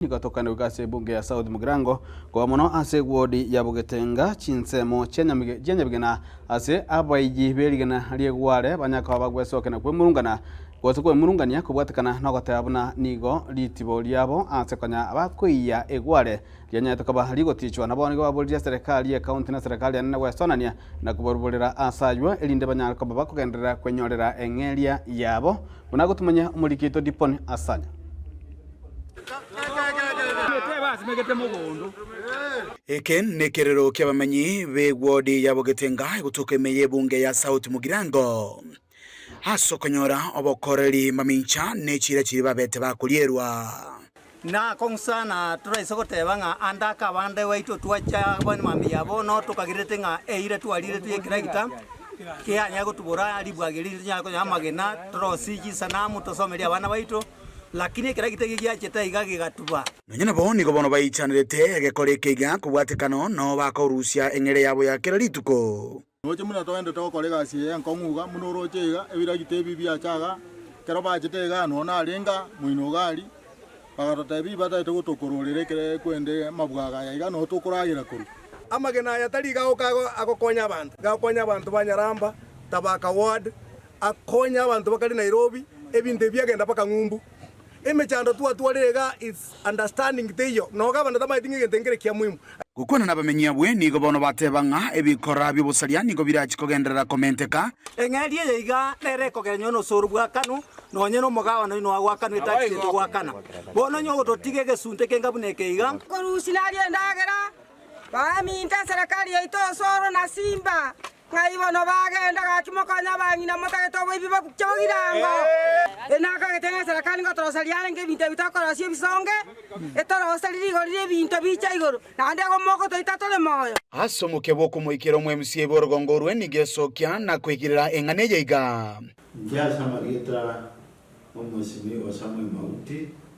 Nigo tokane goika ase ebunge ya South Mugirango, koba mono ase ewodi ya Bogetenga, chinsemo chia nyamige chia nyabigena ase abaiyii be rigena ri'egware banya koba bagwesokena kwemurungana, gose kwemurungania kobwatekana nogoteba buna nigo ritibo riabo ase konya bakoiyia egware rianyaete koba rigotichwa. Nabo nigo baboririe serikali ye county na serikali enene gwesonania na kobaruborera ase aywo erinde banyare koba bakogenderera kwenyorera eng'eria yabo, buna gotumonya omorikito Dipon Asanya. Eke nekerero ki'abamenyi b'egwodi ya Bogetenga egotoka ime y'ebunge ya South Mugirango. Ase okonyora obokoreri mamincha ne chiira chiria babete bakorierwa. Na kong'sa na toraise goteba ng'a ande ake abande baito twachia abana emambia yabo no tokagirerete ng'a eira twariretwe y'ekeragita kianyare gotubora ribwageri rinyare konyora amagena torosirie chisanamu tosomerie abana baito. Lakini ekero egetege giachete aiga gegatuba. Nonya nabo nigo bono baichanerete egekori ekeiga kobwatekano, nao bakorusia eng'eria yabo ya kera rituko. Roche buna toendete gokora egasi eye enkong'u iga, buna oroche iga, ebiragita ebi biacha aaga. Ekero baachete igaa, nonya narenge aa, moino iga aria, bagatotebia, Ibataete gotokororera ekero ekwende amabwago aya iga, nonya tokoragera korwa. Amagena aya tari iga goka agokonya abanto, iga agokonya abanto ba nyaramba, tabaka ward, Akonya abanto bakare Nairobi ebinto ebi biagenda mpaka ng'umbu. Emechando twatwarire iga is understanding teiyo. Noga abanto tamaeti ng'a egento nkere kia muhimu. Gokwana nabamenyi abwe nigo bono bateba ng'a ebikora biobosaria nigo birachi kogenderera komenteka. Eng'eria eye iga nere ekogenyoa n'osooro bw'akanu, nonye n'omogabane oino agwo akanu etari gento gwakana. Bono inwe ogototiga egesunte kenga buna eke iga. Korusia naria endagera, baminta eserekari yaito osooro na simba. Ng'ai bono bagenda gaki mokonye abang'ina motagete oboibi babuche bogirango? Enakagete ng'a eserekari ngotorosa riarenge ebinto ebi tokorosia ebisonge, etorose rire igoro ri'ebinto bicha igoro, naende igo mogotoita tore moyo. Ase omokia bw'okomoikera omwemusi ebe orogongo orwe nigo esokia na koigirera eng'ana eye iga. Inche ase amarieta 'Omosimi Osamu Emauti,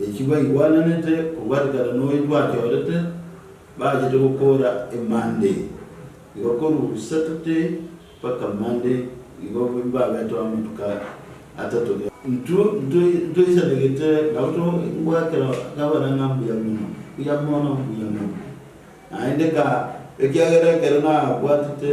Eki baigwananete kobwarekana noyo bwachorete, bachete gokoora emande igo korwa Saturday mpaka Monday igo mbabetwa amatuko atato kera. Intwe ntoisanegete nabo togoakera kabana ng'a mbuya mono, mbuya mono, mbuya mono, naende ng'a ekiagera ekero nabwatete.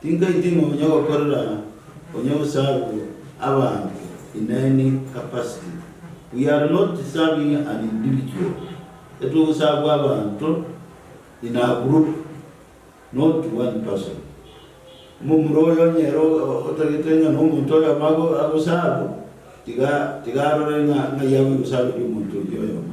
Tinkaitima onye gokorera onye gosarwe abanto in any capacity. We are not serving an individual, etogosarwe abanto in a group not one person. Omomura oyo onye ere otagete ng'a nomonto oyomo ago agosarwe, tiga tiga arore ng'a ng'ai agoigosareri omonto oyio oyomo.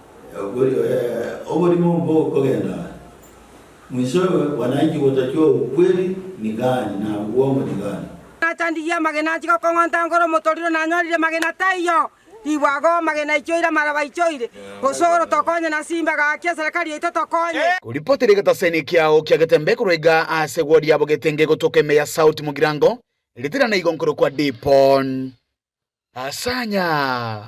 Oborimo bokogenda mwisoe wananchi gotatua obokweri ni gani na bwongo ni gani? Nachandirie amagena anchige okong'onta ngoro omotoriro nanyorire magena taiyo ribwago magena aichoire amara baichoire gose oro tokonye na simba gaki eserekari yaito tokonye. Koripoti ere egetaseni ekiao kia getembe korwa iga aase egwori yabo getenge gotoka ime ya South Mugirango, ritirana igo nkorokwa Dipon. Asanya.